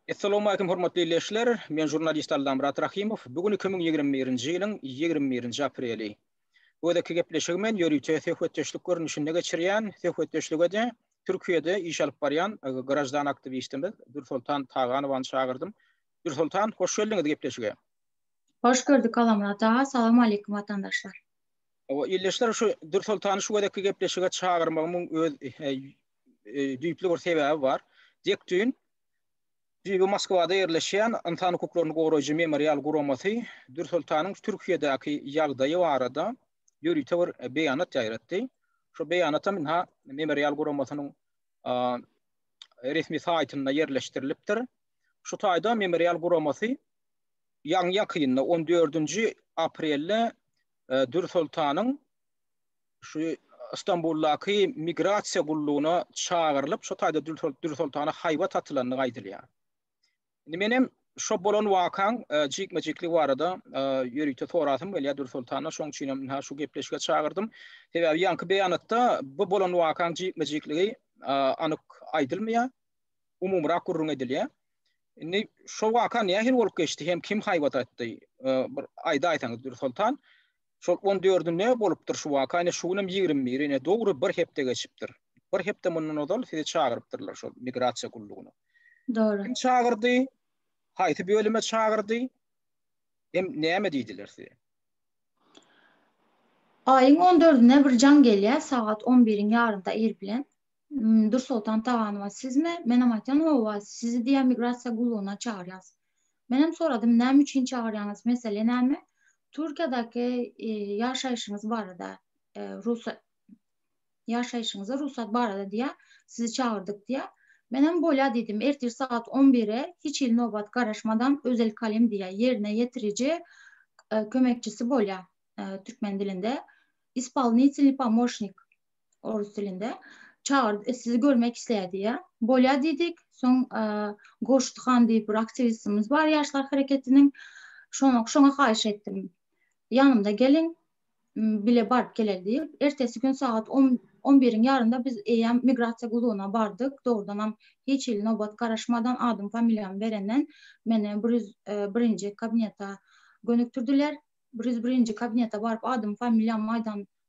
Essalamu Aleýkum hormatly illeşler, men žurnalist Allamyrat Rahymow, bu gün iki müň ýigrimi birinji ýylyň ýigrimi birinji apreli. Bu gezekki gepleşigi men ýörite söhbetdeşlik görnüşinde geçirýän, söhbetdeşlige-de Türkiýede iş alyp barýan graždan aktiwistimiz Dürsoltan Taganowany çagyrdym. Dürsoltan, hoş geldiňiz gepleşige! Hoş gördük Allamyrat aga, salam aleýkum watandaşlar! Hawa, illeşler şu Dürsoltany şu gezekki gepleşige çagyrmagymyň öz düýpli bir sebäbi bar. Dek düýn düýbi Moskwada ýerleşýän Ynsan hukuklaryny goraýjy Memorial guramasy Dürsultanyň Türkiýedäki ýagdaýy barada ýörite bir beýanat ýaýratdy. Şu beýanatam ynha Memorial guramasynyň resmi saýtynda ýerleşdirilipdir. Şu taýda Memorial guramasy ýaňy ýakynda on dördünji aprelde Dürsultanyň şu Stambuldaky migrasiýa gullugyna çagyrylyp, şo taýda Dürsoltana haýbat atylandygy aýdylýar. Indi men hem şo bolan wakaň e, jikme-jikli barada e, ýörite sorasym gelýär Dürsoltana, şoň üçin hem ha şu gepleşige çagyrdym. Sebäbi ýaňky beýanatda bu bolan wakaň jikme-jikligi e, anyk aýdylmaýar. Umumyrak gürrüň edilýär. Indi şo waka nähili bolup geçdi hem kim haýbat atdy? Bir aýdaýsaňyz Dürsoltan. Şol on dördi nä bolupdyr şu waka, ine şu günem ýigrimi biri, ine dogry bir hepde geçipdir. Bir hepde mundan ozal sizi çagyrypdyrlar şol migrasiýa gullugyna. Dogry. Kim çagyrdy? Haýsy bölüme çagyrdy? Hem näme diýdiler size? Aýyň on dördüne bir jaň gelýär, sagat on biriň ýarymda ir bilen. Dursoltan Taganowa sizmi? Menem aýtdym, Hawa, sizi diýýär migrasiýa gullugyna çagyrýas. Menem soradym, näme üçin çagyrýaňyz, mesele näme? Türkiýedäki ýaşaýşyňyz barada, rugsat ýaşaýşyňyza rugsat barada diýýär, sizi çagyrdyk diýýär. Menem bolýa diýdim, ertir sagat on bire hiç hili nobat garaşmadan Özel Kalim diýýär, ýerine ýetiriji kömekçisi bolýar türkmen dilinde, ispolnitselniý pomoşnik. orus dilinde. Çağırdı, e, sizi görmek isledi ya. Bolya dedik. Son e, Goşt Han diye bir aktivistimiz var Yaşlar Hareketiniň. Şoňa, şoňa haýyş etdim. Yanımda gelin bile barıp geler diye. Ertesi gün saat 10 11-iň ýarynda biz eýýäm migrasiýa gullugyna bardyk. Dogrudan hem hiç hili nobat garaşmadan adym familiýamy berenden meni 101-nji e, kabineta gönükdirdiler. 101-nji kabineta baryp adym familiýamy aýdan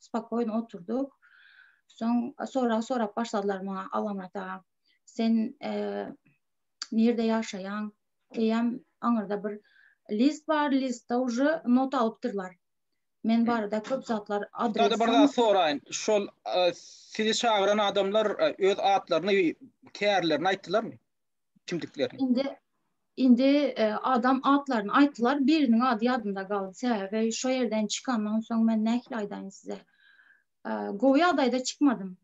spakoýno oturdyk. Soň sorag sorap başladylar maňa Alamyrat aga. Sen nirde ýaşaýaň? Eýýäm aňyrda bir list bar, listde uje not alypdyrlar. Men barada köp zatlar adres. Şeýle bir zat soraýyn. Şol sizi çagyran adamlar öz atlaryny, kärlerini aýtdylarmy? kimdiklerini. Indi indi e, adam atlaryny aýtdylar. Biriniň ady ýadymda galdy. Sebäbi şu ýerden çykandan soň men nähili aýdaýyn size. E, gowy ýagdaýda çykmadym.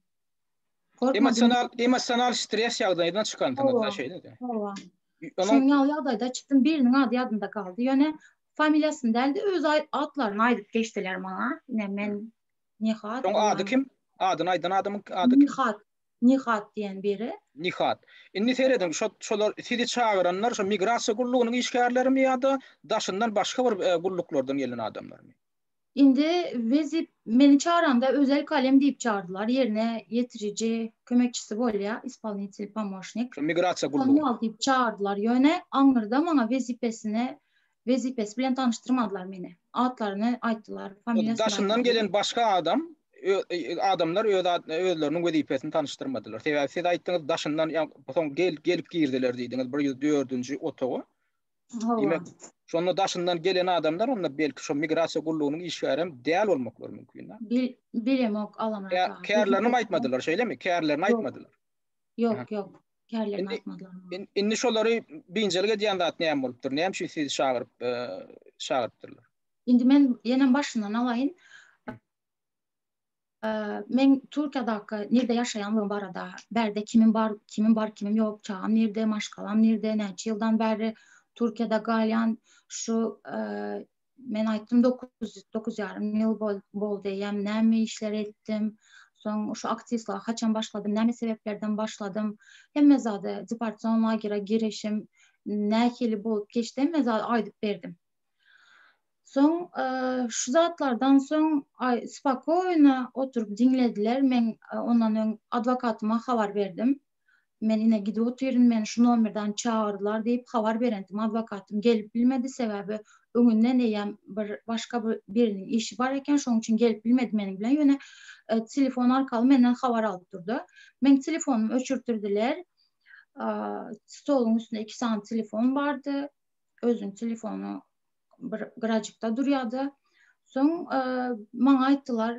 Emosional emosional stres ýagdaýyndan çykandyňyz-da şeýle-de. Hawa. Şoň ýaly ýagdaýda çykdym. Biriniň ady ýadymda galdy. Ýöne familiýasyny däl-de öz atlaryny aýdyp geçdiler maňa. Ine men Nihat. Şoň ady kim? Adyny aýdan adamyň ady kim? Nihat. Nihat diýen biri. Nihat. Indi serediň, şo, şolar sizi çagyranlar şo migrasiýa gullugynyň işgärlerimi ýa-da daşyndan başga bir e, gulluklardan gelen adamlarmy? Indi wezip meni çaranda özel kalem diýip çardylar. Ýerine ýetiriji kömekçisi bolýar, ispolinitel pomosnik. Şo migrasiýa gullugy. Kommunal diýip çardylar. Ýöne aňyrda maňa wezipesine Wezipesi bilen tanyşdyrmadylar meni. Atlaryny aýtdylar, familiýasyny aýtdylar. Daşyndan gelen başga adam, adamlar öz özleriniň wezipesini tanyşdyrmadylar. Sebäbi siz aýtdyňyz, daşyndan, ýagny soň gelip girdiler diýdiňiz, bir ýüz dördünji otaga. Hawa. Diýmek, şonda daşyndan gelen adamlar onda belki şo migrasiýa gullugynyň işgäri hem däl bolmaklary mümkin-dä. Bilemok, Alamyrat aga. Kärlerini aýtmadylar, şeýlemi? Kärlerini aýtmadylar. Ýok, ýok. Kärlerini atmadylar. Indi şolary biynjalyk edýän zat näme bolupdyr? Näme üçin sizi çagyryp, e, çagyrypdyrlar? Indi men ýene başyndan alaýyn. E, men Türkiýadaky nirde ýaşaýanlygym barada, bärde kimim bar, kimim bar, kimim ýok, çagam nirde, maşgalam nirde, näçe ýyldan bäri Türkiýada galýan, şu e, Men aýtdym, dokuz, dokuz ýarym ýyl boldy eýýäm, näme işler etdim, soň şu aktiwistlige haçan başladym, näme sebäplerden başladym, hemme zady, deportasion lagera girişim nähili bolup geçdi, hemme zady aýdyp berdim. Soň şu zatlardan soň spokoýna oturyp diňlediler, men ondan öň adwokatyma habar berdim. Men ine gidip otyryn, meni şu nomerden çagyrdylar diýip habar berendim, adwokatym gelip bilmedi, sebäbi öňünden eýýäm bir başga bir biriniň işi bar eken, şonuň üçin gelip bilmedi meniň bilen, ýöne telefon arkaly menden habar alyp durdy. Meň telefonumy öçürtirdiler, stoluň üstünde iki sany telefon bardy, özüniň telefony bir gyrajykda durýardy. Soň maňa aýtdylar,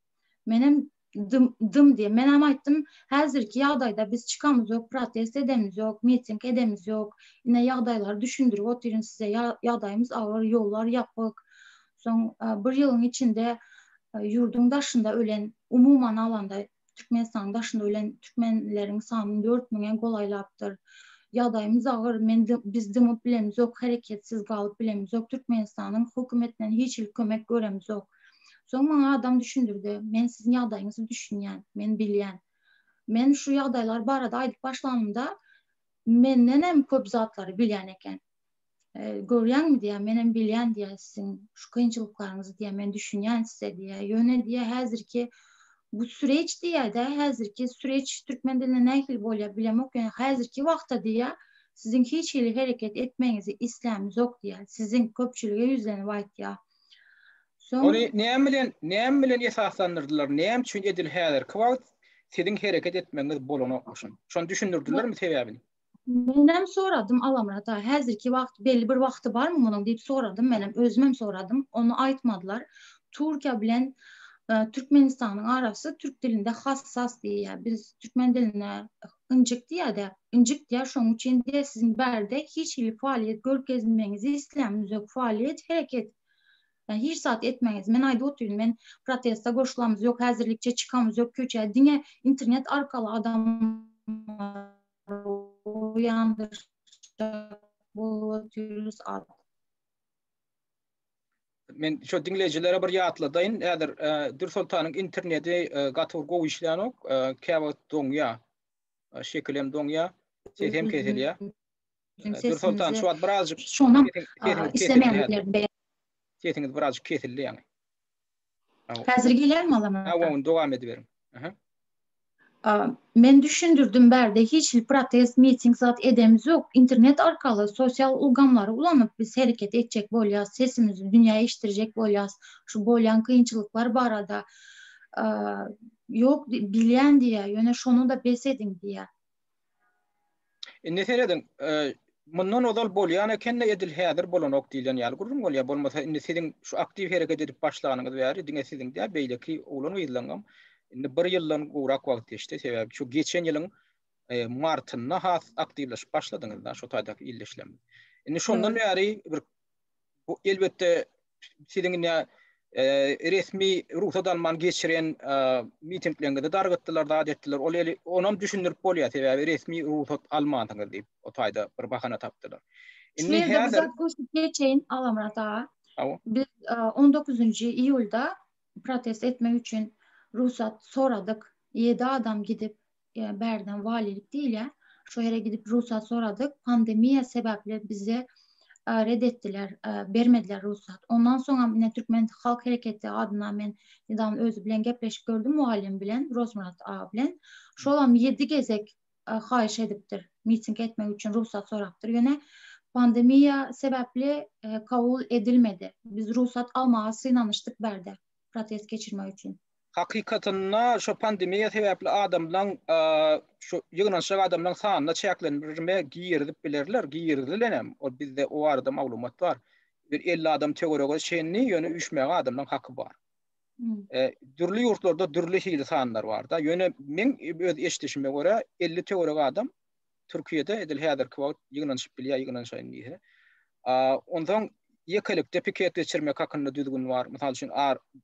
Menem dym, dym diýen. Menem aýtdym, häzirki ýagdaýda biz çykamyz ýok, protest edemiz ýok, miting edemiz ýok. Ine ýagdaýlary düşündirip otyryn size. Ýagdaýymyz agyr, ýollar ýapyk. Soň bir ýylyň içinde ýurduň daşynda ölen, umuman alanda Türkmenistanyň daşynda ölen türkmenleriň sany dört müňe golaýlapdyr. Ýagdaýymyz agyr, men biz dymyp bilemizok, hereketsiz galyp bilemizok. Türkmenistanyň hökümetden hiç hili kömek göremizok. Soň maňa adam düşündirdi. Men siziň ýagdaýyňyzy düşünýän, men bilýän. Men şu ýagdaýlar barada aýdyp başlanymda, mendenem köp zatlary bilýän eken. E, görýäňmi diýýär, menem bilýän diýýär siziň şu kynçylyklaryňyzy diýýär, men düşünýän size diýýär. Ýöne diýýär, häzirki bu süreç diýýär-de, häzirki süreç türkmen dilinde nähili bolýar bilemok, ýöne häzirki wagtda diýýär, siziň hiç hili hereket etmegiňizi islämiz ýok diýýär. Siziň köpçülige ýüzlenip aýtýar. Ony näme bilen, näme bilen esaslandyrdylar? Näme üçin edil häzirki wagt siziň hereket etmegiňiz bolanokmy şony? Şony düşündirdilermi sebäbini? Menem soradym Alamyrada, häzirki wagt belli bir wagty barmy munuň diýip soradym menem, özümem soradym. Ony aýtmadylar. Türkiýe bilen Türkmenistanyň arasy türk dilinde hassas diýýär. Biz türkmen dilinde Ynjykdy ýa-da, Injikdýär şoň üçin-de siziň bärde hiç hili faaliýet görkezmegiňizi isleýän müzek faaliýet hereket hiç zat etmegiňiz men aýdyp otyryn men protesta goşulamyz ýok häzirlikçe çykamyz ýok köçä diňe internet arkaly adamlary oýandyrjak bolup otyrys at Men şu dinleyicilere bir ýatladayın. Häzir e, Dür Sultanyň interneti e, gaty bir gowy işleýänok. E, Käwagt doňýa. E, şekil hem doňýa. Ses hem kesilýär. Dür Sultan şu wagt birazjyk şonam islemeýänliklerini Sesiniz birazjyk kesildi ýaňy. Häzir gelýärmi Alaman aka? Hawa, dowam ediberiň. Aha. Men düşündirdim bärde hiç hil protest, miting zat edemiz ýok. Internet arkaly sosial ulgamlary ulanyp biz hereket etjek bolýas, sesimizi dünýä eşitdirjek bolýas. Şu bolýan kynçylyklar barada ýok bilýän diýýär, ýöne şony-da bes ediň diýýär. Indi serediň, mundan ozal bolýan ekende edil häzir bolanok diýlen ýaly gürrüň bolýar. Bolmasa indi siziň şu aktiw hereket edip başlanyňyz bäri diňe siziň däl beýleki oglan-gyzlaryňam indi bir ýyldan gowrak wagt geçdi. Sebäbi şu geçen ýylyň martynda has aktiwleşip başladyňyz-da şu taýdaky ildeşlerimiz. Indi şondan bäri bir Bu elbetde siziň indi resmi rugsat alman geçiren mitingleriňizi dargatdylar, zat etdiler. Ol eli onam düşündirip bolýar, sebäbi resmi rugsat almansyňyz diýip, o taýda bir bahana tapdylar. Indi häzir goşup geçeýin Agamyrat aga. Biz 19-njy iýulda protest etmek üçin rugsat soradyk. Ýedi adam gidip ýa bärden walilik diýilýär. Şo ýere gidip rugsat soradyk. Pandemiýa sebäpli bize red etdiler, bermediler rugsat. Ondan soňam ine Türkmen halk hereketi adyndan men nedaman özi bilen gepleşip gördüm mugallym bilen, Rozmyrat aga bilen. Şolam ýedi gezek haýyş edipdir, miting etmek üçin rugsat sorapdyr. Ýöne pandemiýa sebäpli kabul edilmedi. Biz rugsat almaga synanyşdyk bärde protest geçirmek üçin. Hakykatynda şu pandemiýa sebäpli adamlaň şu ýygnanyşyk adamlaň sanyna çäklendirme girizip bilerler, girizilenem. Ol bizde o barada maglumat bar. Bir 50 adam töwerege çenli, ýöne üýşmäge adamlaň haky bar. Dürli ýurtlarda dürli hili sanlar bar-da. Ýöne men öz eşidişime görä 50 töwerege adam Türkiýede edil häzirki wagt ýygnanyşyp bilýär, ýygnanyşaýyn diýse. Onsoň ýekelikde piket geçirmek hakynda düzgün bar. Mysal üçin,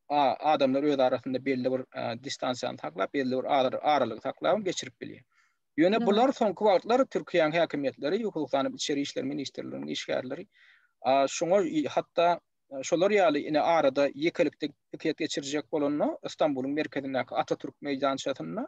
adamlar öz arasynda belli bir distansiýany saklap, belli bir aralygy saklap geçirip bilýär. Ýöne bular soňky wagtlar Türkiýäniň häkimiýetleri, hususan hem Içeri işler ministrliginiň işgärleri şuňa hatda şolar ýaly ine arada ýekelikde piket geçirjek bolanda Stambulyň merkezindäki Atatürk meýdançasynda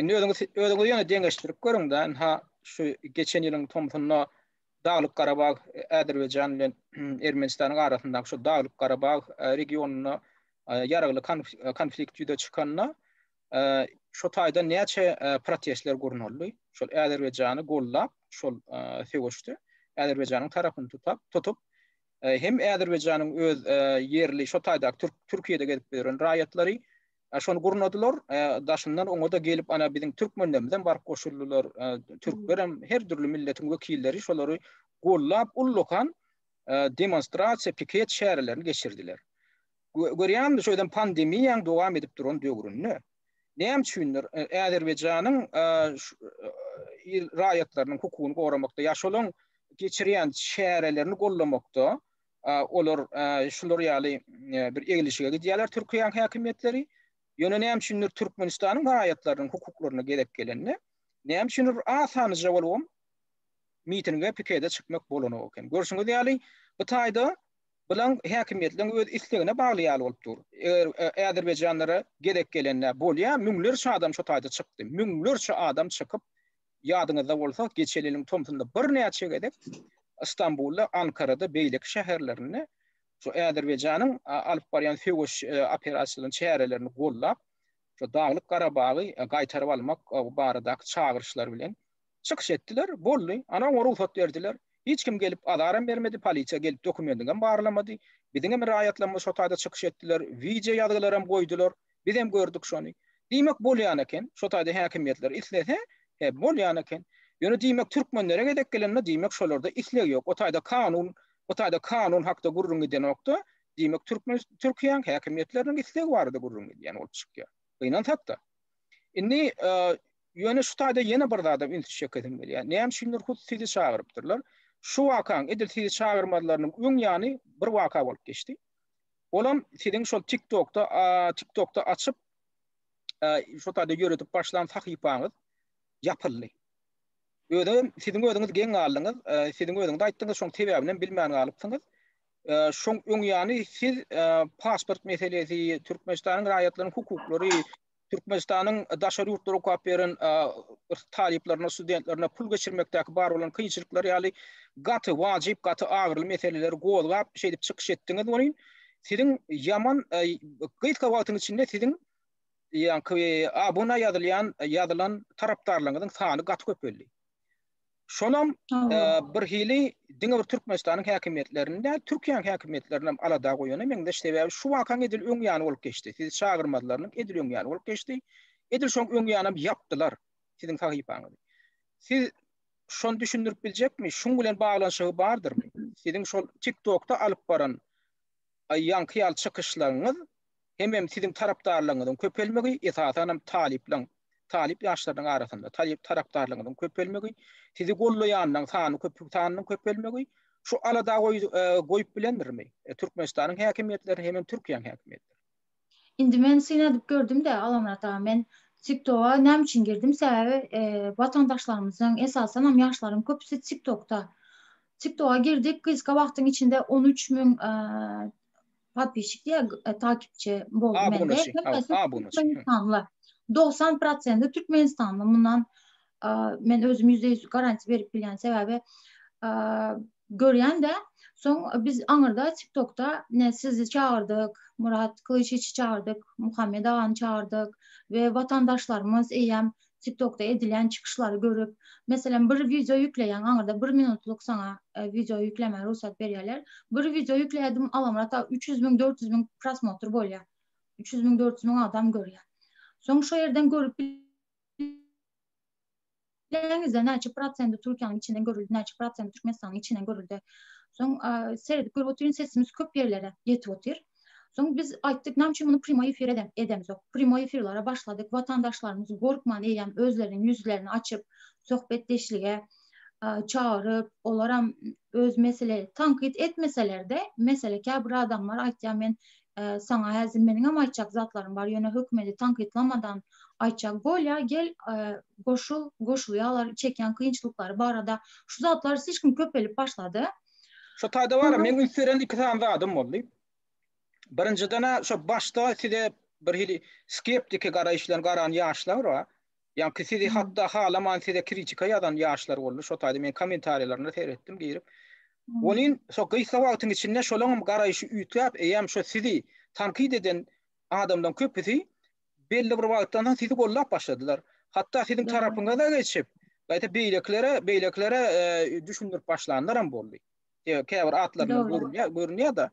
Indi özüňiz özüňizi ýöne deňeşdirip görüň-de, ynha şu geçen ýylyň tomsunda Daglyk Garabag Azerbaýjan bilen Ermenistanyň arasyndaky şu Daglyk Garabag regionynda ýaragly konflikt ýüze çykanda şu taýdan näçe protestler gurnaldy. Şol Azerbaýjany goldap, şol söweşde Azerbaýjanyň tarapyny tutap, tutup hem Azerbaýjanyň öz ýerli şu taýdaky Türkiýede gezip ýören raýatlary Şony gurnadylar, daşyndan oňa-da gelip, ana, biziň türkmenlerimizem baryp goşuldylar, türklerem, her dürli milletiň wekilleri şolary gollap, ullakan demonstrasiýa, piket çärelerini geçirdiler. Görýändir, şu özem pandemiýaň dowam edip duran döwründe. Näme üçindir, Azerbaýjanyň raýatlarynyň hukugyny goramakda, ýa şolaň geçirýän çärelerini gollamakda olar şular ýaly bir eglişige gidýärler Türkiýäň häkimiýetleri. Ýöne näme üçindir Türkmenistanyň raýatlarynyň hukuklaryna gezek gelende, näme üçindir bir az sanyja bolubam mitinge, pikede çykmak bolanok eken. Görşüňiz ýaly, bu taýda bilen häkimiýetleriň öz islegine bagly ýaly bolup dur. Eger äzerbaýjanlara gezek gelende bolýar, müňlerçe adam şu taýda çykdy. Müňlerçe adam çykyp, Ýadyňyzda bolsa, geçen ýylyň tomsunda birnäçe gezek Stambulda, Ankarada, beýleki şäherlerinde şu Azerbaýjanyň alyp barýan söweş operasiýalaryny, çärelerini gollap, şu Daglyk Garabagy gaýtaryp almak baradaky çagyryşlar bilen çykyş etdiler. Boldy. Ana, oňa rugsat berdiler. Hiç kim gelip azaram bermedi, polisiýa gelip dokumendiňem barlamady. Biziňem raýatlarymyz şo taýda çykyş etdiler, wideo ýazgylaram goýdular. Bizem gördük şony. Diýmek bolýan eken. Şo taýda häkimiýetler islese, he, bolýan eken. Ýöne diýmek türkmenlere gezek gelende diýmek şolarda isleg ýok. O taýda kanun, bu taýda kanun hakda gürrüň gidenokda, diýmek türkmen Türkiýäň häkimiýetleriniň islegi barada gürrüň gidýän bolup çykýar. Gynansakda. Indi ýöne şu taýda ýene bir zada üns çekesim gelýär. Näme üçindir hut sizi çagyrypdyrlar. Şu wakaň edil sizi çagyrmazlarynyň öň ýany bir waka bolup geçdi. Olam siziň şol TikTokda, TikTokda açyp şu taýda ýöretip başlan sahypaňyz ýapyldy. Özem siziň özüňiz geň galdyňyz, e, siziň özüňiz aýtdyňyz, şoň sebäbini bilmän galypsyňyz. E, şoň öň ýany siz e, pasport meselesi, Türkmenistanyň raýatlarynyň hukuklary, Türkmenistanyň daşary ýurtlara okap beren talyplaryna, studentlerine pul geçirmekdäki bar bolan kynçylyklar ýaly gaty wajyp, gaty agyryly meseleleri gozgap, şeýdip çykyş etdiňiz welin, siziň ýaman gysga wagtyň içinde siziň ýaňky abuna ýazylýan, ýazylan tarapdarlaryňyzyň sany gaty köpeldi. Şonam birhili diňe bir Türkmenistanyň häkimiýetlerini däl, Türkiýäniň häkimiýetlerini hem alada goýana meňzeş. Sebäbi şu wakaň edil öň ýany bolup geçdi. Sizi çagyrmazlarynyň edil öň ýany bolup geçdi. Edil şoň öň ýanam ýapdylar siziň sahypaňyzy. Siz şony düşündirip biljekmi? Şuň bilen baglanyşygy bardyrmy? Siziň şol TikTokda alyp baran ýaňky ýaly çykyşlaryňyz hemem siziň tarapdarlaryňyzyň köpelmegi, esasanam talyplaryň, talyp ýaşlarynyň arasynda talyp tarapdarlaryňyzyň köpelmegi, sizi gollaýanlaryň sany köp sanynyň köpelmegi şu alada goýup bilendirmi? Türkmenistanyň häkimiýetleri hemem Türkiýäň häkimiýetleri. Indi men synadyp gördüm-de, Alamyrat aga, men TikToga näme üçin girdim? Sebäbi watandaşlarymyzyň, esasanam ýaşlaryň köpüsi TikTokda. TikToga girdik, gysga wagtyň içinde on üç müň Podpişik ya takipçi bol mende. Türkmenistanla. 90 prosendi Türkmenistanla. Bundan men özüm yüzde yüz garanti verip bilyan sebebi göryan da Soň e, biz aňyrda TikTokda ne sizi çağırdyk, Murat Kılıçiçi çağırdyk, Muhammed agany çağırdyk we watandaşlarymyz eýýäm TikTokda edilýän çykyşlary görüp, meselem, bir wideo ýükleýäň, aňyrda bir minutlyk saňa wideo ýüklemäge rugsat berýärler. Bir wideo ýükleýärdim, Allamyrat aga, üç ýüz müň, dört ýüz müň prosmotr bolýar. Üç ýüz müň, dört ýüz müň adam görýär. Soň şo ýerden görüp bileňizde näçe prosendi Türkiýäniň içinden görüldi, näçe prosendi Türkmenistanyň içinden görüldi. Soň seredip görüp otyryn, sesimiz köp ýerlere ýetip otyr. Soň biz aýtdyk, näme üçin muny primoý efir edemzok? Primoý efirlere başladyk, watandaşlarymyz gorkman eýýäm özleriniň ýüzlerini açyp, söhbetdeşlige çagyryp, olaram öz mesele, tankyt etmeseler-de, mesele käbir adamlar aýtýar, men saňa häzir meniňem aýtjak zatlarym bar, ýöne hökümeti tankytlamadan aýtjak bolýar, gel goşul, goşulýarlar, çekýän kynçylyklary barada. Şu zatlar siz kim köpelip başlady. Şo taýda bar, men üns beren iki sany zadym boldy. Birinjiden-ä şo başda size bir hili skeptiki garaýyş bilen garan ýaşlar bar. Ýa ki sizi hatda halaman size kritika ýazan ýaşlar boldy. Şo taýda men kommentariýalaryna seretdim girip. Welin şo gysga wagtyň içinde şolaryň garaýşy üýtgäp, eýýäm şo sizi tankyt eden adamlaryň köpüsi belli bir wagtdan soň sizi gollap başladylar. Hatda siziň tarapyňyza geçip, gaýta beýlekilere, beýlekilere düşündirip başlanlaram boldy. Käbir atlaryndan görünýär, görünýär-de.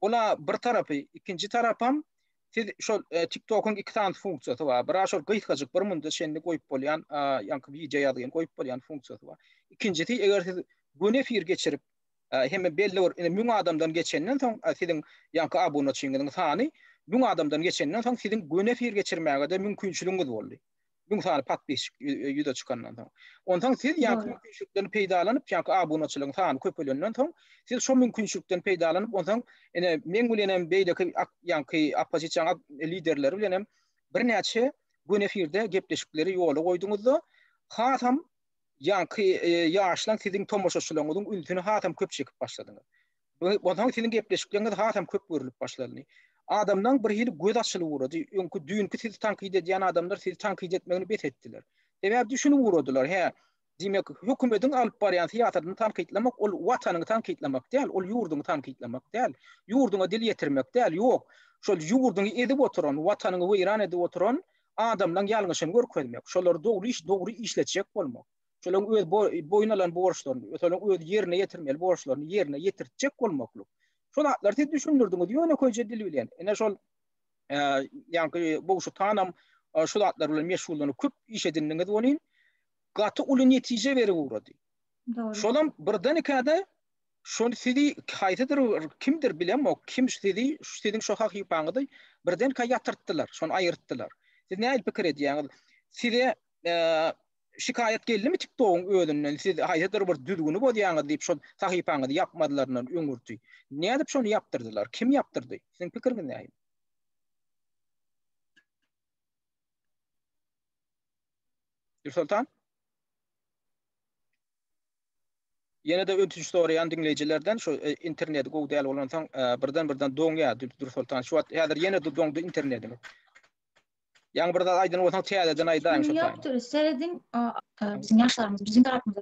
Ola bir tarapy, ikinji tarapam siz şol TikTok-yň iki sany funksiýasy bar. Biri şol gysgajyk bir munda çenli goýup bolýan, ýaňky wideo ýazgyn goýup bolýan funksiýasy bar. Ikinjisi, eger siz göni efir geçirip, Hemme belli bir indi müň adamdan geçenden soň siziň ýaňky abunaçyňyzyň sany müň adamdan geçenden soň siziň göni efir geçirmäge-de mümkinçiligiňiz boldy. Müň sany podpisçik ýüze çykandan soň. Onsoň siz ýaňky mümkinçilikden peýdalanyp ýaňky abunaçylaryň sany köpelenden soň siz şo mümkinçilikden peýdalanyp onsoň ine meň bilenem beýleki ýaňky oppozisiýa liderleri bilenem birnäçe göni efirde gepleşikleri ýola goýduňyzda hasam Ýaňky ýaşlaň siziň tomaşaçylaryňyzyň ünsüni hasam köp çekip başladyňyz. Onsoň siziň gepleşikleriňiz hasam köp görülip başlandy. Adamlaň bir hili göz açylyp ugrady. Öňki düýnki sizi tankyt edýän adamlar sizi tankyt etmegini bes etdiler. Sebäbi düşünip ugradylar, hä, diýmek, hökümetiň alyp barýan syýasatyny tankytlamak ol watanyňy tankytlamak däl, ol ýurduňy tankytlamak däl, ýurduňa dil ýetirmek däl, ýok, şol ýurduňy ezip oturan, watanyňy weýran edip oturan adamlaň ýalňyşyny görkezmek, şolary dogry iş dogry işletjek bolmak, şolaň öz boýun alan borçlaryny, ösalaň öz ýerine ýetirmeli borçlaryny ýerine ýetirtjek bolmaklyk. Şo zatlary siz düşündirdiňiz ýönekeýje dil bilen. Ine şol ýaňky Bogşutanam şu zatlar bilen meşgullanyp köp iş edindiňiz welin, gaty uly netije berip ugrady. Dogry. Şolam birden ikäde Şony sizi haýsydyr bir kimdir bilemok, kim sizi siziň şo hahypaňyzy birdenkä ýatyrtdylar, şony aýyrtdylar. Siz nähili pikir edýäňiz? Size şikaýat geldimi TikTok-yň özünden, siz haýsydyr bir düzgüni bozýaňyz diýip şo sahypaňyzy ýapmadylaryndan öňürti? Nädip şony ýapdyrdylar? Kim ýapdyrdy? Siziň pikiriňiz nähili? Nursoltan? Ýene-de ötünç soraýan diňleýjilerden şu interneti gowy däl bolansoň birden birden doňýa Dursoltan şu wagt häzir ýene doňdy internetiň. Ýaňy bir zat aýdan bolsaň täzeden aýdaýyň şu taýda. Ýokdur serediň biziň ýaşlarymyz biziň tarapymyza.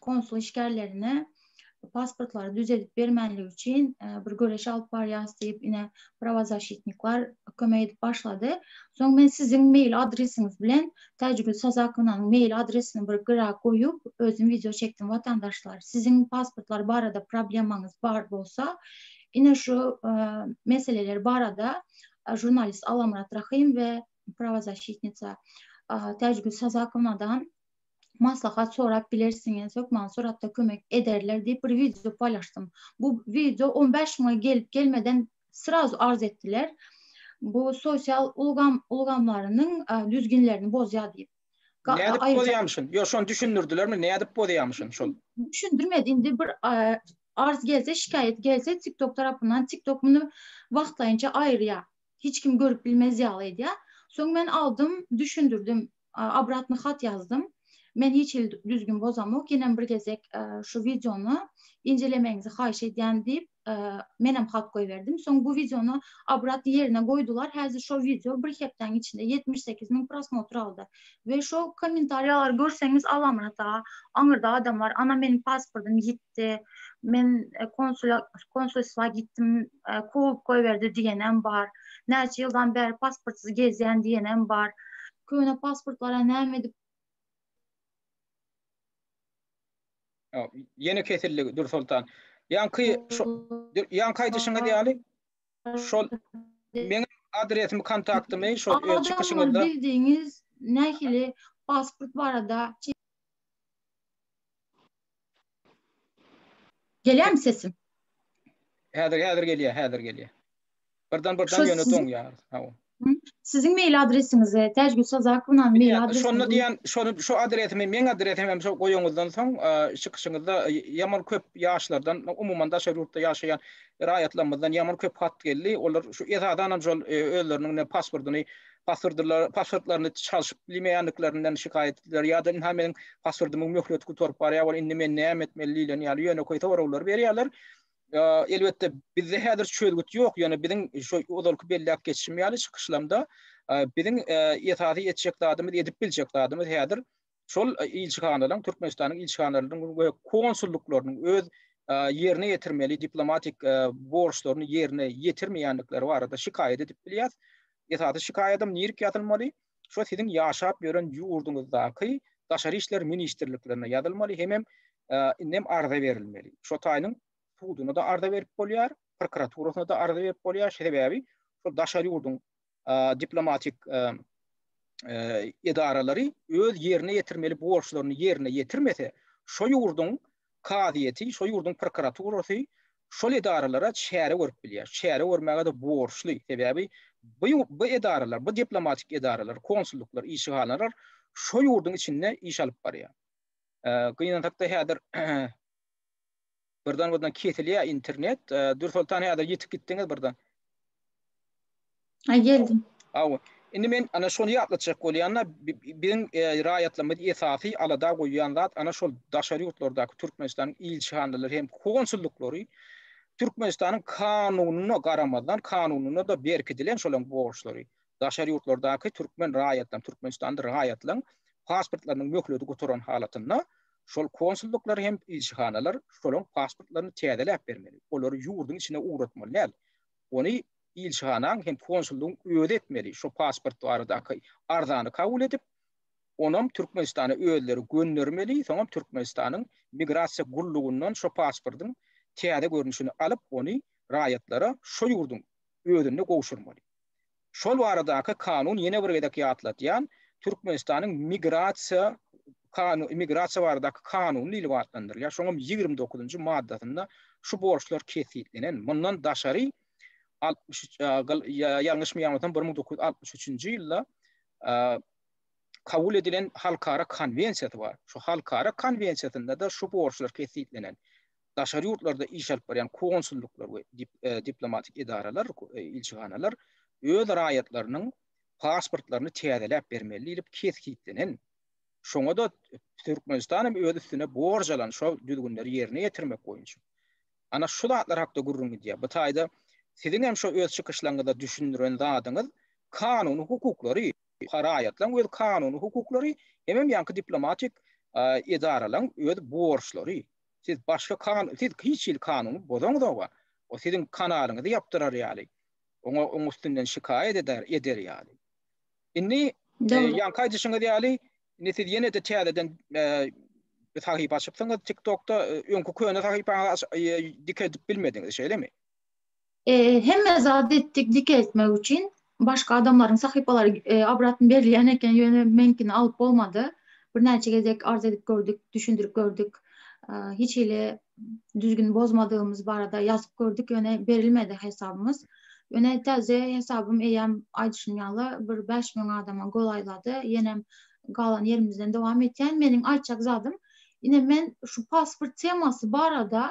konsul işgärlerine pasportlary düzedip bermänligi üçin e, bir göreş alyp barýas diýip ine prawozasitniklar kömek edip başlady. Soň men siziň mail adresiňiz bilen Täjigül Sazakownanyň mail adresini bir gira goýup özüm wideo çekdim watandaşlar. Siziň pasportlar barada problemaňyz bar bolsa ine şu e, meseleler barada e, žurnalist Alamrat Rahim we prawozasitnica Täjigül Sazakownadan maslahat sorap bilersiňiz, hökman suratda kömek ederler diýip bir wideo paýlaşdym. Bu wideo 15 müňe gelip gelmeden srazu arz etdiler. Bu sosial ulgam ulgamlarynyň düzgünlerini bozýar diýip. Nädip bozýamyşyn? Ýok, şony düşündirdilermi? Nädip bozýamyşyn şol? Düşündirmedi. Indi bir arz gelse, şikaýat gelse TikTok tarapyndan TikTok muny wagtlaýynça aýyrýar. Hiç kim görüp bilmez ýaly edýär. Soň men aldym, düşündirdim. Obratny hat ýazdym. Men hiç hili düzgün bozamok, ýenem bir gezek şu wideony injelemegiňizi haýyş edýän diýip, menem hat goýberdim. Soň bu wideony obratny ýerine goýdular. Häzir şo wideo bir hepdäň içinde ýetmiş sekiz müň prosmotr aldy. We şo kommentariýalary görseňiz, Alamyrat aga, aňyrda adam bar, ana meniň pasportym ýitdi. gitdi. Men e, konsula konsulstwa gitdim, e, kowup goýberdi diýenem bar. Näçe ýyldan bäri pasportsyz gezýän diýenem bar. Köne pasportlara näme edip Ýene kesildi Dur Soltan. Ýanky şu ýanky aýdyşyňyz ýaly şol meň adresimi kontaktymy şol öz çykyşyňyzda bildiňiz nähili pasport barada Gelýärmi sesim? Häzir häzir gelýär, häzir gelýär. Birden birden ýöne doňýar. Hawa. Siziň mail adresiňizi, Täjgül Sazakownanyň mail adresini. Şonda diýen, şonu şu adresimi, meň adresimi hem şol goýanyňyzdan soň, çykyşyňyzda ýaman köp ýaşlardan, umuman daşary ýurtda ýaşaýan raýatlarymyzdan ýaman köp hat geldi. Olar şu esasan hem şol özleriniň pasportyny paswordlar paswordlaryny çalşyp bilmeýänliklerinden şikaýat etdiler ýa-da ynha meniň paswordymyň möhleti gutaryp barýar bol indi men näme etmeli diýlen ýaly ýönekeý soraglary berýärler elbetde bizde häzir çözgüt ýok ýöne biziň şu ozalky belläp geçişim ýaly çykyşlamda biziň esasy etjek zadymyz edip biljek zadymyz häzir şol ilçihanalaryň, Türkmenistanyň ilçihanalarynyň we konsullyklarynyň öz ýerine ýetirmeli diplomatik borçlaryny ýerine ýetirmeýändikleri barada şikaýat edip bilýär. Esasy şikaýadym nirki ýazylmaly? Şo siziň ýaşap ýören ýurduňyzdaky Daşary işler ministrliklerine ýazylmaly hemem indem arza berilmeli. Şo taýynyň suduna-da arza berip bolýar, prokuraturasyna-da arza berip bolýar. Şeýle sebäbi şo daşary ýurduň diplomatik edaralary öz ýerine ýetirmeli borçlaryny ýerine ýetirmese, şo ýurduň kazyýeti, şo ýurduň prokuraturasy şol edaralara çäre görüp bilýär. Çäre görmäge-de borçly. Sebäbi bu edaralar, bu diplomatik edaralar, konsulluklar, işgähanalar şo ýurduň içinde iş alyp barýar. Gynansak-da häzir Birden birden kesilýär internet. Dürsoltan häzir ýetip gitdiňiz birden. Ha geldim. Aw. Indi men ana şony ýatlatjak bolýan-da, biziň raýatlarymyz esasy alada goýýan zat ana şol daşary ýurtlardaky Türkmenistanyň ilçihanalary hem konsullyklary Türkmenistanyň kanunyna garamazdan, kanunyna-da berkidilen şolaryň borçlary. Daşary ýurtlardaky türkmen raýatlaryň, Türkmenistanly raýatlaryň pasportlarynyň möhleti gutaran halatynda Şol konsullyklar hem ilçihanalar şolaryň pasportlaryny täzeläp bermeli, olary ýurduň içine ugratmaly däl. Ony ilçihanaň hem konsullygyň özi etmeli, şo pasport baradaky arzany kabul edip, onam Türkmenistana özleri göndermeli, soňam Türkmenistanyň Migrasiýa gullugyndan şo pasportyň täze görnüşini alyp, ony raýatlara şo ýurduň özünde gowşurmaly. Şol baradaky kanun ýene bir gezek ýatladýan, Türkmenistanyň migrasiýa migrasiýa baradaky kanuny diýlip atlandyrylýar. Şoň hem ýigrimi dokuzynjy maddasynda şu borçlar kesgitlenen. Mundan daşary altmyş üç ýalňyşmy ýaňlasam bir müň dokuz ýüz altmyş üçünji ýylda kabul edilen halkara konwensiýasy bar. Şu halkara konwensiýasynda-da şu borçlar kesgitlenen. daşary ýurtlarda iş alyp barýan konsulluklar we diplomatik edaralar, ilçihanalar öz raýatlarynyň pasportlaryny täzeläp bermeli diýlip kesgitlenen. Şoňa-da Türkmenistan hem öz üstüne borç alan şo düzgünleri ýerine ýetirmek boýunça. Ana şu zatlar hakda gürrüň gidýär. Bu taýda siziň hem şo öz çykyşlaryňyzda düşündiren zadyňyz kanuny hukuklary, raýatlaryň öz kanuny hukuklary hemem ýaňky diplomatik edaralaryň öz borçlary. Siz başga kan siz hiç hili kanuny bozaňzoga, o siziň kanalyňyzy ýapdyrar ýaly, oňa oň üstünden şikaýat eder eder ýaly. Indi Dogry. ýaňky aýdyşyňyz ýaly, indi siz ýene-de täzeden sahypa açypsyňyz TikTokda, öňki köne sahypaňyzy aç dikeltip bilmediňiz, şeýlemi? Hemme zady etdik dikeltmek üçin başga adamlaryň sahypalary obratn berilýän eken ýöne meňkini alyp bolmady birnäçe gezek arz edip gördük düşündirip gördük hiç hili düzgün bozmadygymyz barada ýazyp gördük ýöne berilmedi hesabymyz ýöne täze hesabym eýýäm aýdyşym ýaly bir bäş müň adama golaýlady ýenem galan ýerimizden dowam etýän meniň aýtjak zadym ine men şu pasport temasy barada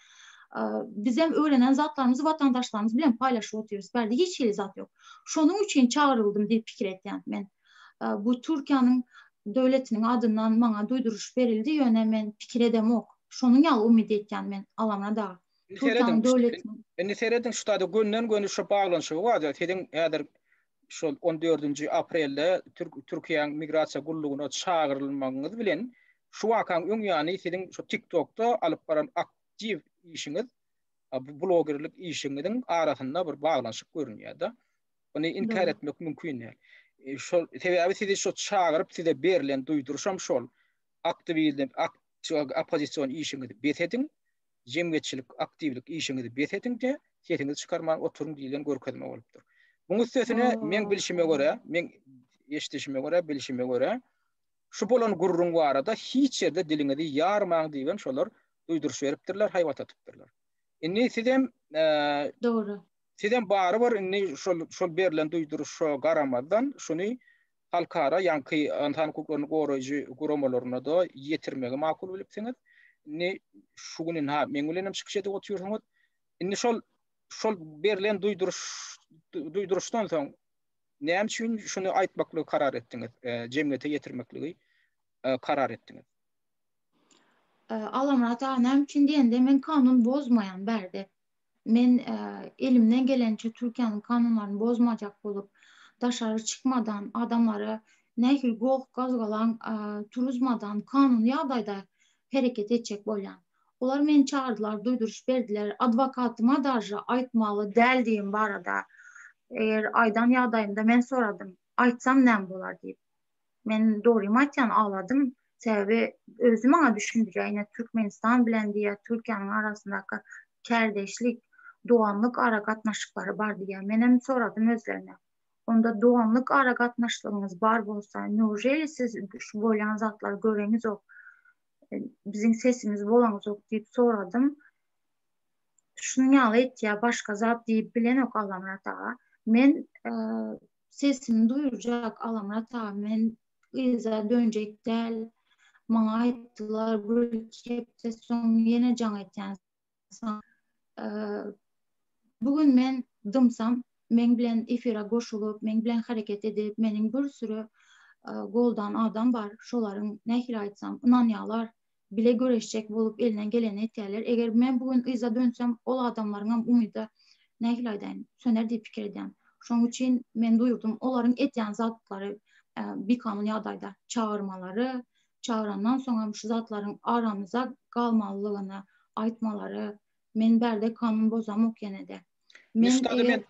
Bizem öwrenen zatlarymyzy watandaşlarymyz bilen paýlaşyp otyrys. Bärde hiç hili zat ýok. Şonuň üçin çagyryldym diýip pikir etýän men. Bu Türkiýäniň döwletiniň adyndan maňa duýduryş berildi, ýöne men pikir edemok. Şonuň ýaly umyt etýän men Alamyrat aga. Indi serediň, şu taýda gönden-göni şu baglanyşygy bar. Siziň häzir şol 14-nji aprelde Türkiýäň Migrasiýa gullugyna çagyrylmagyňyz bilen şu wakanyň öň ýany siziň şu TikTokda alyp baran aktiw işiňiz, blogerlik işiňiziň arasynda bir baglanyşyk görünýär-de. Ony inkär etmek mümkin däl. E, şol sebäbi sizi şu çagyryp size berlen duýduryşam şol. Aktiwizm, aktiw oppozision işiňizi bes ediň. jemgyýetçilik aktiwlik işiňizi bes ediň-de, sesiňizi çykarman oturyň diýlen görkezme bolupdyr. Muň üstesine, meň bilşime görä, meň eşidişime görä, bilşime görä, şu bolan gürrüň barada hiç ýerde diliňizi ýarmaň diýibem şolar duýduryş beripdirler, haýbat atypdyrlar. Indi sizem, Dogry. Sizem barybir indi şol şol berlen duýduryşa garamazdan, şuny halkara ýaňky ynsan hukuklaryny goraýjy guramalaryna-da ýetirmegi makul bilipsiňiz. Indi şu gün ynha meň bilen hem çykyş edip otyrsyňyz. Indi şol şol berlen duýduryş duýduryşdan soň näme üçin şuny aýtmaklygy karar etdiňiz? E, jemgyýete ýetirmekligi e, karar etdiňiz. E, Alamyrat aga, näme üçin diýende, men kanun bozmaýan bärde. Men elimden geleniçe Türkiýäniň kanunlaryny bozmajak bolup, daşary çykmadan, adamlara nähili goh-gazgalaň turuzmadan kanuny ýagdaýda hereket etjek bolýan. Olar meni çagyrdylar, duýduryş berdiler, adwokatyma daže aýtmaly däldigim barada eger aýdan ýagdaýymda men soradym, aýtsam näme bolar diýip. Men dogrymy aýtýan agladym. Sebäbi özi maňa düşündirýär, ine Türkmenistan bilen diýýär, Türkiýäniň arasyndaky kärdeşlik, doganlyk aragatnaşyklary bar diýýär. Menem soradym özlerine. Onda doganlyk aragatnaşlygyňyz bar bolsa, neujeli siz şu bolýan zatlary göreňizok, biziň sesimiz bolaňyzok diýip soradym. Şunuň ýaly aýtýar, başga zat diýip bilenok Allamyrat aga. Men sesini duýurjak Alamyrat aga men yza dönjek däl maňa aýtdylar bir iki hepde soň ýene jaň etýän saňa bu gün men dymsam meň bilen efira goşulyp meň bilen hereket edip meniň bir süri goldan adam bar şolaryň nähili aýtsam ynanýalar bile göreşjek bolup elinden gelenini etýärler. Eger men bu gün yza dönsem, ol adamlaryňam umydy, nähili aýdaýyn, söner diýip pikir edýän. Şonuň üçin men duýurdym, olaryň edýän zatlary bikanun ýagdaýda çagyrmalary, çagyrandan soňam şu zatlaryň aramyzda galmalydygyny aýtmalary, men bärde kanun bozamok ýene-de. Men eger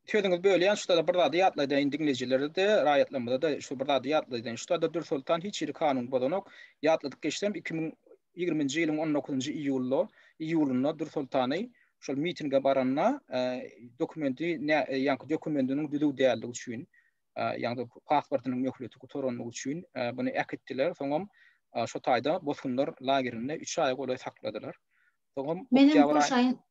Sözüňizi bölýän şutada bir zady ýatlaýdaýyn diňleýjilerde-de, raýatlarymyza-da şu bir zady ýatlaýdaýyn. Şutada Dürsoltan hiç hili kanun bozanok. Ýatladyp geçsem iki müň ýigrimi nji ýylyň on dokuzynjy iýulda, iýulynda Dürsoltany şol mitinge baranda dokumenti nä ýaňky dokumendiniň düzüw däldigi üçin ýagny pasportynyň möhleti gutarandygy üçin buny äkitdiler. Soňam şo taýda bosgunlar lagerinde üç aýa golaý sakladylar. Soňam oktýabr aýy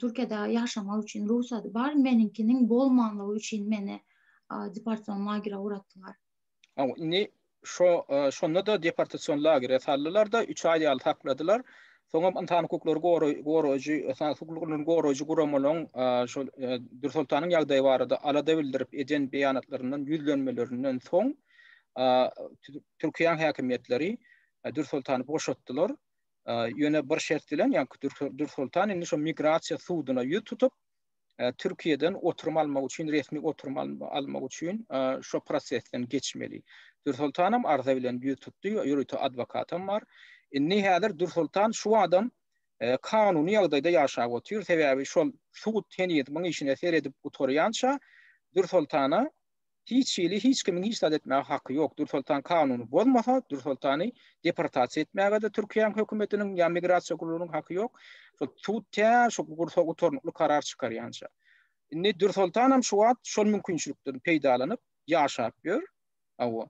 Türkiýede ýaşamak üçin rugsady bar, meniňkiniň bolmanlygy üçin meni deportasion lagere ugratdylar. Hawa, indi şo şonda-da deportasion lagere saldylar-da, üç aý ýaly sakladylar. Soňam ynsan hukuklary goraýjy, ynsan hukuklaryny goraýjy guramalaryň şol Dürsoltanyň ýagdaýy barada alada bildirip eden beýanatlaryndan, ýüzlenmelerinden soň Türkiýäň häkimiýetleri Dürsoltany boşatdylar. ýöne bir şert bilen, ýa Dursultan indi şu migrasiýa suduna ýüz tutup, Türkiýeden oturum almak üçin, resmi oturum almak üçin şu prosesden geçmeli. Dursultanam arza bilen ýüz tutdy, ýörite adwokatam bar. Indi häzir Dursultan şu adam kanuny ýagdaýda ýaşap otyr, sebäbi şol sud heniz muň işine seredip gutarýança Dursultana Hiç hili hiç kimiň hiç zat etmäge haky ýok. Dürsoltan kanuny bozmasa, Dürsoltany deportasiýa etmäge-de Türkiýäň hökümetiniň ýa migrasiýa gullugynyň haky ýok. Şo sud tä şo gursa gutarnykly karar çykarýança. Indi Dürsoltanam şu wagt şol mümkinçilikden peýdalanyp ýaşap ýör. Hawa.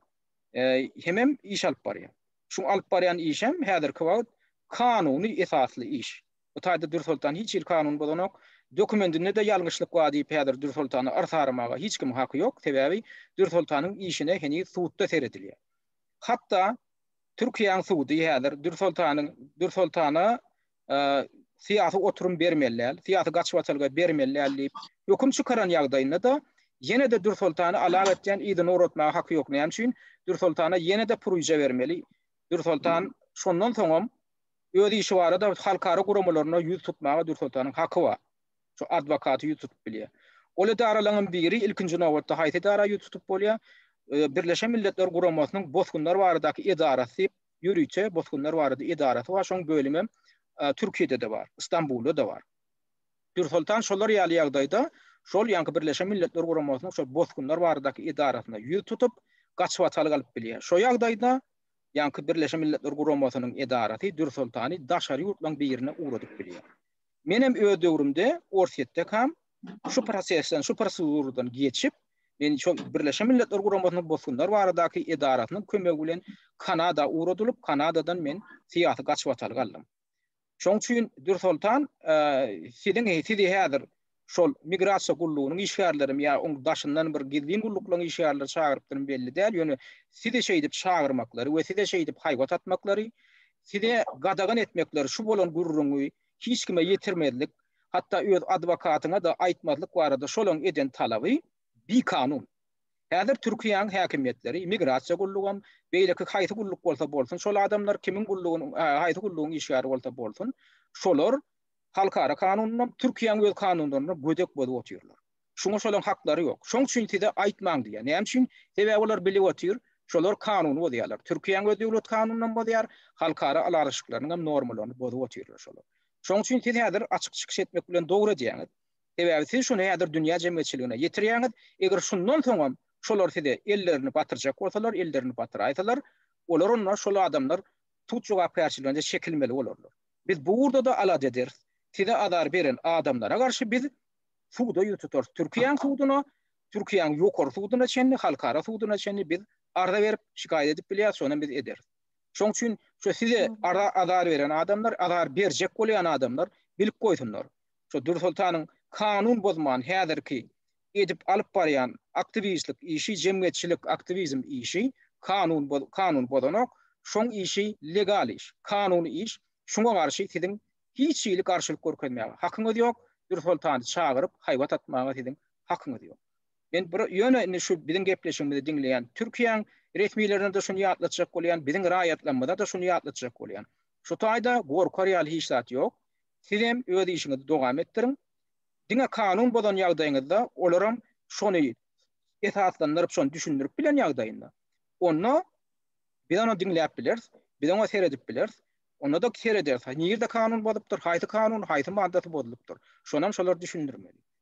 Hemem iş alyp barýar. Şu alyp barýan işem häzirki wagt kanuny esasly iş. Bu taýda Dürsoltan hiç hili kanuny bozanok. Dokumendinde-de ýalňyşlyk bar diýip häzir Dürsoltana yrs aramaga hiç kimiň haky ýok, sebäbi Dürsoltanyň işine heniz sudda seredilýär. Hatda Türkiýäň sudy häzir Dürsoltanyň Dürsoltana syýasy oturum bermeli däl, syýasy gaçybatalga bermeli däl diýip höküm çykaran ýagdaýynda-da ýene-de Dürsoltany alak etýän yzyny ugratmaga haky ýok. Näme üçin? Dürsoltana ýene-de puryja bermeli. Dürsoltan şondan soňam Öz işi barada halkara guramalaryna ýüz tutmaga Dürsultanyň haky bar. Şu adwokaty ýüz tutup bilýär. Ol edaralaryň biri ilkinji nobatda haýsy edara ýüz tutup bolýar? Birleşen Milletler Guramasynyň bosgunlar baradaky edarasy diýip, ýörite bosgunlar barada edarasy bar. Şoň bölüm hem Türkiýede-de bar, Stambulda-da bar. Dürsultan şolar ýaly ýagdaýda şol ýaňky Birleşen Milletler Guramasynyň şo bosgunlar baradaky edarasyna ýüz tutup, gaçybatalga alyp bilýär. Şo ýagdaýda ýaňky Birleşen Milletler Guramasynyň edarasy Dürsoltany daşary ýurtlaryň birine ugradyp bilýär. Menem öz döwrümde Orsýetdekam şu prosesden, şu proseduradan geçip, men şol Birleşen Milletler Guramasynyň bosgunlar baradaky edarasynyň kömegi bilen Kanada ugradylyp, Kanadadan men syýasy gaçybatalga aldym. Şoň üçin Dürsoltan siziň sizi häzir şol migrasiýa gullugynyň işgärlerimi ýa oň daşyndan bir gizlin gulluklaryň işgärleri çagyrypdyrmy belli däl, ýöne sizi şeýdip çagyrmaklary we size şeýdip haýbat atmaklary, size gadagan etmekleri şu bolan gürrüňi hiç kime ýetirmezlik, hatda öz adwokatyňa-da aýtmazlyk barada şolaryň eden talaby bikanun. Häzir Türkiýäň häkimiýetleri, migrasiýa gullugam, beýleki haýsy gulluk bolsa bolsun, şol adamlar kimiň gullugynyň, haýsy gullugyň işgäri bolsa bolsun, şolar halkara kanunynam, Türkiýäň öz kanunlarynam gödek bozup otyrlar. Şuňa şolaryň haklary ýok. Şoň üçin size aýtmaň diýýär. Näme üçin? Sebäbi olar bilip otyr, şolar kanuny bozýarlar. Türkiýäň öz döwlet kanunynam bozýar, halkara ylalaşyklarynyňam normalaryny bozup otyrlar şolar. Şoň üçin siz häzir açyk çykyş etmek bilen dogry edýäňiz. Sebäbi siz şuny häzir dünýä jemgyýetçiligine ýetirýäňiz, eger şundan soňam şolar size ellerini batyrjak bolsalar, ellerini batyraýsalar, olar onda şol adamlar sud jogapkärçiligine çekilmeli bolarlar. Biz bu ugurda-da alada ederis. Size azar beren adamlara garşy biz suda ýüz tutarys. Türkiýäň suduna, Türkiýäň ýokary suduna çenli, halkara suduna çenli biz arza berip, şikaýat edip bilýäris, şonam biz ederis. Şoň üçin şu size azar beren adamlar, azar berjek bolýan adamlar bilip goýsunlar. şu Dursultanyň kanun bozman häzirki edip alyp barýan aktiwistlik işi jemgyýetçilik aktiwizm işi kanun kanun bozanok şoň işi legal iş kanuny iş şuňa garşy siziň hiç hili garşylyk görkezmäge hakyňyz ýok Dursultany çagyryp haýbat atmaga siziň hakyňyz ýok men bir ýöne indi şu biziň gepleşigimizi diňleýän Türkiýäň resmilerine-de şuny ýatlatjak bolýan biziň raýatlarymyza-da şuny ýatlatjak bolýan şu taýda gorkar ýaly hiç zat ýok Sizem öz işiňizi dowam etdiriň. Diňe kanun bozan ýagdaýyňyzda olaram şony esaslandyryp şony düşündirip bilen ýagdaýynda onda biz ony diňläp bileris, biz oňa seredip bileris. Onda-da serederis. Nirde kanun bozupdyr, haýsy kanun, haýsy maddasy bozulupdyr. Şonam şolar düşündirmeli.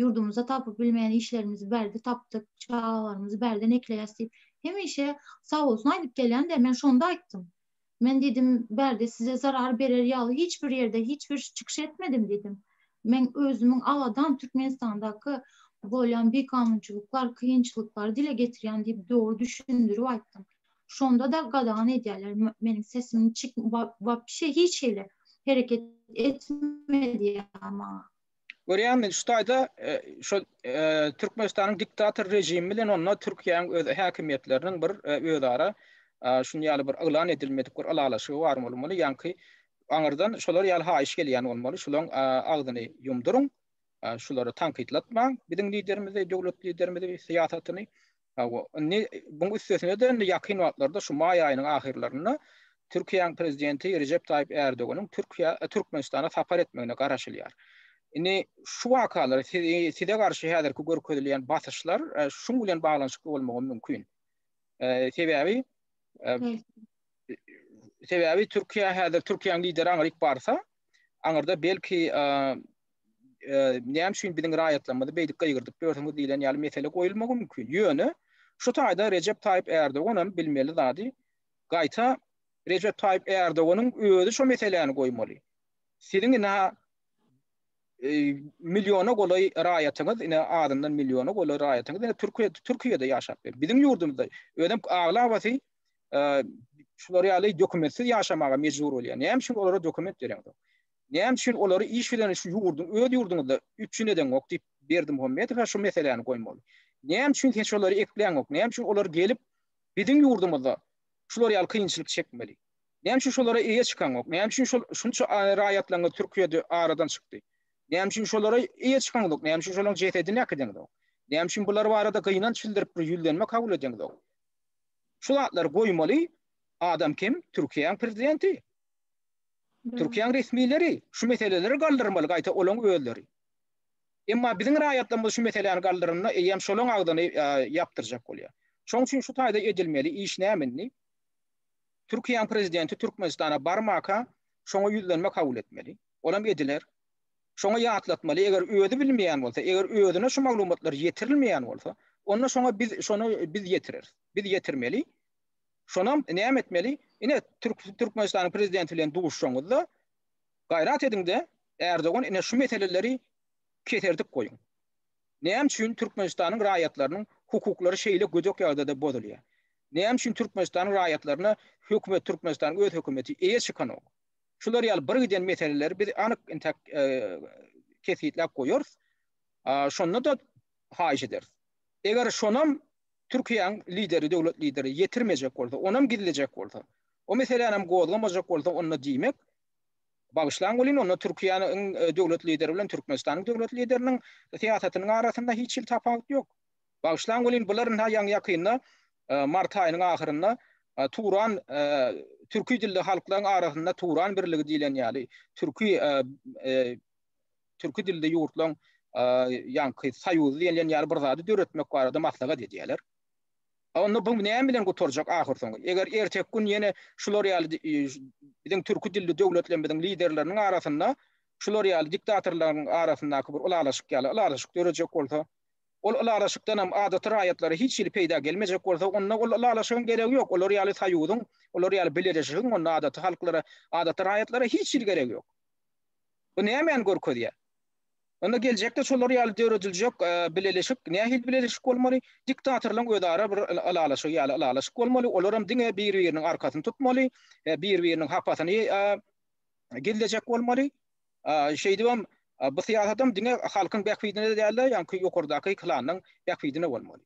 ýurdumyzda tapyp bilmeýän işlerimizi bärde tapdyk, çagalarymyzy bärden ekleýäs diýip, hemişe sag bolsun aýdyp gelýänler. Men şonda aýtdym. Men diýdim, bärde size zarar berer ýaly hiç bir ýerde hiç bir çykyş etmedim diýdim. Men özümiň abadan Türkmenistandaky bolýan bikanunçylyklar, kynçylyklary dile getirýän diýip dogry düşündirip aýtdym. Şonda-da gadagan edýärler, meniň sesimi çyk wapşe hiç hili hereket etme diýýärler maňa. Görýäňmi, şu taýda şu Türkmenistanyň diktator režimi bilen onda Türkiýäniň öz häkimiýetleriniň bir özara şuny ýaly bir yglan edilmedik bir ylalaşygy bar bolmaly, ýaňky aňyrdan şolar ýaly haýyş gelýän bolmaly, şolaň agzyny ýumduryň, şulary tankytlatmaň, biziň liderimizi, döwlet liderimizi, syýasatyny, Hawa, indi buň üstesine-de indi ýakyn wagtlarda şu maý aýynyň ahyrlarynda Türkiýäň prezidenti Rejep Taýyp Ärdoganyň Türkiýä, Türkmenistana sapar etmegine garaşylýar. Indi şu wakalar, size garşy häzirki görkezilýän basyşlar şuň bilen baglanyşykly bolmagy mümkin. Sebäbi, sebäbi Türkiýä häzir Türkiýäň lideri aňryk barsa, aňyrda belki näme üçin biziň raýatlarymyzy beýdip gygyrdyp ýörsiňiz diýlen ýaly mesele goýulmagy mümkin. Ýöne şu taýda Rejep Taýyp Erdogan hem bilmeli zady gaýta Rejep Taýyp Erdoganyň özi şu meseläni goýmaly. Siziň ina e, milyona golaý raýatyňyz, ine adyndan milyona golaý raýatyňyz ine Türkiýe Türkiýede ýaşap bilen. Biziň ýurdumyzda özem aglabasy e, şular ýaly dokumentsiz ýaşamaga mejbur bolýar. Näme üçin olara dokument bereňiz? Näme üçin olary iş bilen şu ýurduň, öz ýurduňyzda üpjün edeňok diýip, Berdimuhamedowa şu meseläni goýmaly. Näme üçin hiç olary ekläňok, näme üçin olar gelip, biziň ýurdumyzda şular ýaly kynçylyk çekmeli? Näme üçin şolara eýe çykaňok? Näme üçin şol şunça raýatlaryňyz Türkiýede aradan çykdy? Näme üçin şolara eýe çykaňok? Näme üçin şolaryň jesedini äkideňok? Näme üçin bular barada gynanç bildirip, bir ýüzlenme kabul edeňok? Şu zatlary goýmaly adam kim? Türkiýäň prezidenti. Türkiýäň resmileri şu meseleleri galdyrmaly gaýta olaň özleri. Emma biziň raýatlarymyz şu meseläni galdyranda eýýäm şolaň agzyny ýapdyrjak bolýar. Şoň üçin şu taýda edilmeli iş näme indi? Türkiýäň prezidenti Türkmenistana barmaka şoňa ýüzlenme kabul etmeli. Olam ediler. Şoňa ýatlatmaly eger özi bilmeýän bolsa, eger özüne şu maglumatlar ýetirilmeýän bolsa, onda şoňa biz şony biz ýetireris. Biz ýetirmeli. Şonam näme etmeli? Ine, Türkmenistanyň prezidenti bilen duşuşaňyzda, gaýrat ediň-de, Erdogan, ine, şu meseleleri keserdip goýuň. Näme üçin Türkmenistanyň raýatlarynyň hukuklary şeýle gödek ýagdaýda bozulýar? Näme üçin Türkmenistanyň raýatlaryna hökümet, Türkmenistanyň öz hökümeti eýe çykanok? Şular ýaly birgiden meseleleri biz anyk intäk kesgitläp goýarys. Şonda-da haýyş ederis. Eger şonam Türkiýäň lideri, döwlet lideri ýetirmejek bolsa, onam gizlejek bolsa, o meselänam gozgamajak bolsa, onda diýmek, bagyşlaň welin, onda Türkiýäniň döwlet lideri bilen Türkmenistanyň döwlet lideriniň syýasatynyň arasynda hiç hili tapawut ýok. Bagyşlaň welin, bular ynha ýaňy-ýakynda, mart aýynyň ahyrynda Turan türki dilli halklaryň arasynda Turan birligi diýlen ýaly, türki türki dilli ýurtlaryň ýaňky soýuzy diýilýän ýaly bir zady döretmek barada maslahat edýärler. Onda bu näme bilen gutarjak ahyrsoňy? Eger erteki gün ýene şular ýaly biziň türki dilli döwletlerimiziň liderleriniň arasynda şular ýaly diktatorlaryň arasyndaky bir ylalaşyk ýaly ylalaşyk dörejek bolsa, ol ylalaşykdan hem adaty raýatlara hiç hili peýda gelmejek bolsa, onda ol ylalaşygyň geregi ýok. Olar ýaly soýuzyň, olar ýaly bileleşigiň onda adaty halklara, adaty raýatlara hiç hili geregi ýok. Bu nämäni görkezýär? Onda geljekde şolar ýaly dörediljek bileleşik nähili bileleşik bolmaly? Diktatorlaryň özara bir ylalaşygy ýaly ylalaşyk bolmaly, olaram diňe bir-biriniň arkasyny tutmaly, bir-biriniň hapasyny gizlejek bolmaly. Şeýdibem bu syýasatam diňe halkyň bähbidine-de däl-de, ýaňky ýokardaky klanyň bähbidine bolmaly.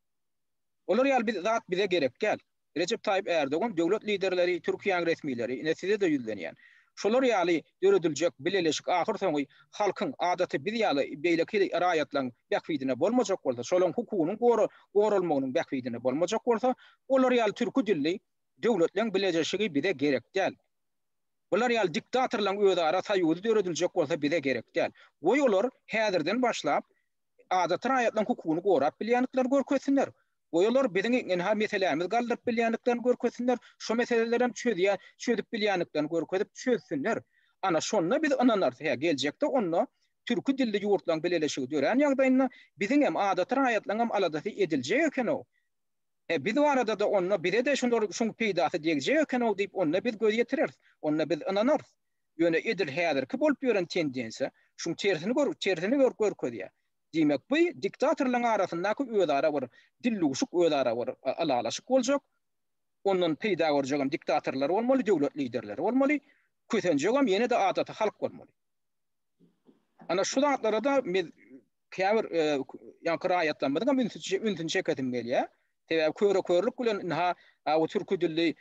Olar ýaly zat bize gerek däl. Rejep Taýyp Ärdogan döwlet liderleri, Türkiýäň resmileri, ine size-de ýüzlenýän. Şolar ýaly dörediljek bileleşik ahyr soňy halkyň, adaty biz ýaly beýleki raýatlaryň bähbidine bolmajak bolsa, şolaryň hukugynyň goralmagynyň bähbidine bolmajak bolsa, olar ýaly türki dilli döwletleň bileleşigi bize gerek däl. Bular ýaly diktatorlaryň özara soýuzy dörediljek bolsa bize gerek däl. Goý olar häzirden başlap adaty raýatlaryň hukugyny gorap bilýändiklerini görkezsinler. Goý olar biziň ynha meselämizi galdyryp bilýändiklerini görkezsinler, şu meselelerem çözýän, çözüp bilýändiklerini görkezip çözsünler. Ana şonda biz ynanarys, hä geljekde onda türki dilli ýurtlaryň bileleşigi dörän ýagdaýynda biziňem, adaty raýatlaryňam aladasy ediljek eken-ow. Hä biz barada-da onda bize-de şular şuň peýdasy degjek eken-ow diýip onda biz göz ýetireris, onda biz ynanarys. Ýöne edil häzirki bolup ýören tendensiýa şuň tersini tersini görkezýär. Diýmek, bu diktatorlaryň arasyndaky özara bir dillugşuk, özara bir ylalaşyk boljak. Ondan peýda görjegem diktatorlar bolmaly, döwlet liderleri bolmaly. Kösenjegem ýene-de adaty halk bolmaly. Ana şu zatlara-da käbir ýaňky raýatlarymyzyň hem ünsüni çekesim gelýär. Sebäbi köre-körlük bilen ynha bu türki dilli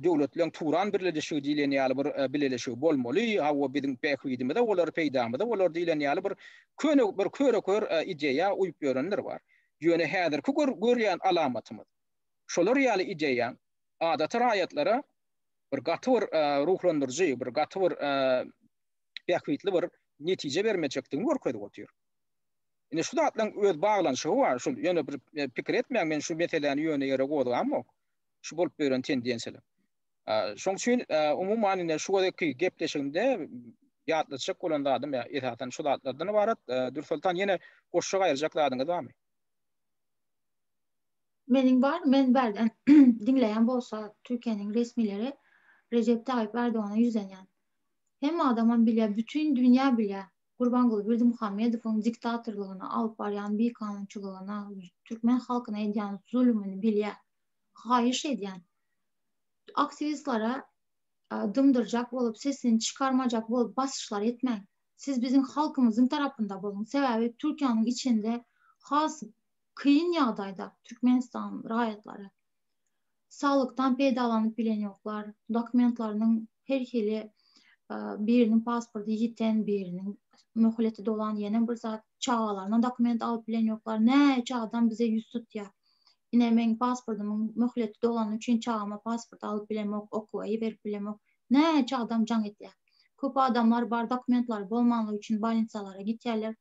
döwletleriň Turan birleşigi diýlen ýaly bir bileleşigi bolmaly, hawa biziň bähbidimize bolar, peýdamyza bolar diýlen ýaly bir köne bir köre-kör ideýa uýup ýörenler bar. Ýöne häzirki görýän alamatymyz şolar ýaly ideýaň adaty raýatlara bir gaty bir ruhlandyryjy, bir gaty bir bähbitli bir netije bermejekdigini görkezip otyr. Ine şu zatlaryň öz baglanyşygy bar, şu ýöne bir e, pikir etmäň, men şu meseläni ýöne ýere gozgamok. Şu bolup beren tendensiýalar. Şoň üçin e, umuman ine şu gezekki gepleşigimde ýatlatjak bolan zadym e, esasan şu zatlardan ibarat. Dürsoltan ýene goşjak aýyrjak zadyňyz barmy? Meniň bar, men bärden diňleýän bolsa Türkiýäniň resmileri Recep Tayyip Erdoğan'a ýüzlenýän. Hemme adamam bilýär, bütin dünýä bilýär. Gurbanguly Berdimuhamedowyň diktatorlygyna, alyp barýan bikanunçylygyna, türkmen halkyna edýän zulumyny bilýär. Haýyş edýän, aktiwistlere dymdyrjak bolup, sesini çykarmajak bolup basyşlar etmäň. Siz biziň halkymyzyň tarapynda boluň. Sebäbi Türkiýäniň içinde has kyn ýagdaýda Türkmenistan raýatlary. Saglykdan peýdalanyp bilenýoklar. Dokumentlarynyň her hili biriniň pasporty ýiten biriniň möhleti dolan ýene bir zat çagalaryna dokument alyp bilenýoklar. Näçe adam bize ýüz tutýar. Ine meň pasportymyň möhleti dolany üçin çagama pasport alyp bilemok, okuwa iberip bilemok. Näçe adam jaň edýär. Köp adamlar bar dokumentlary bolmanlygy üçin bolnitsalara gitýärler.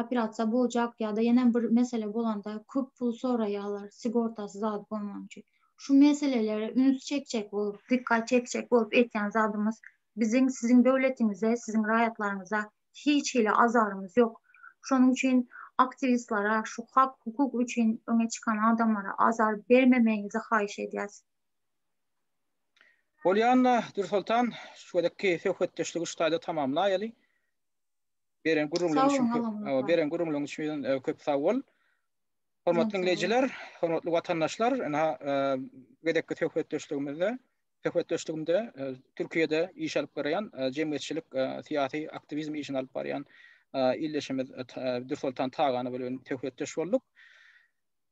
operasiýa boljak ýa-da ýene bir mesele bolanda köp pul soraýarlar sigortasy zat bolmany üçin. Şu meselelere üns çekjek bolup, dikkat çekjek bolup etýän zadymyz biziň siziň döwletiňize, siziň raýatlaryňyza hiç hili azarymyz ýok. Şonuň üçin aktiwistlere, şu hak, hukuk üçin öňe çykan adamlara azar bermemegiňizi haýyş edýäs. Bolýanda, Dürsoltan, şu gezekki söhbetdeşligi şu taýda tamamlaýaly. Beren gürrüňleriň üçin köp sag Beren gürrüňleriň üçin köp sag bol. Hormatly dinleýjiler, hormatly watandaşlar, ina gezekki söhbetdeşligimizde söhbetdeşligimde Türkiýede iş alyp barýan jemgyýetçilik syýasy aktiwizm işini alyp barýan ildeşimiz Dürsoltan Tagany bilen söhbetdeş bolduk.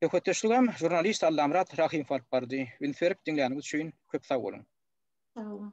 Söhbetdeşligim žurnalist Allamyrat Rahimow alyp bardy. Üns berip diňläniňiz üçin köp sag boluň. Sag boluň.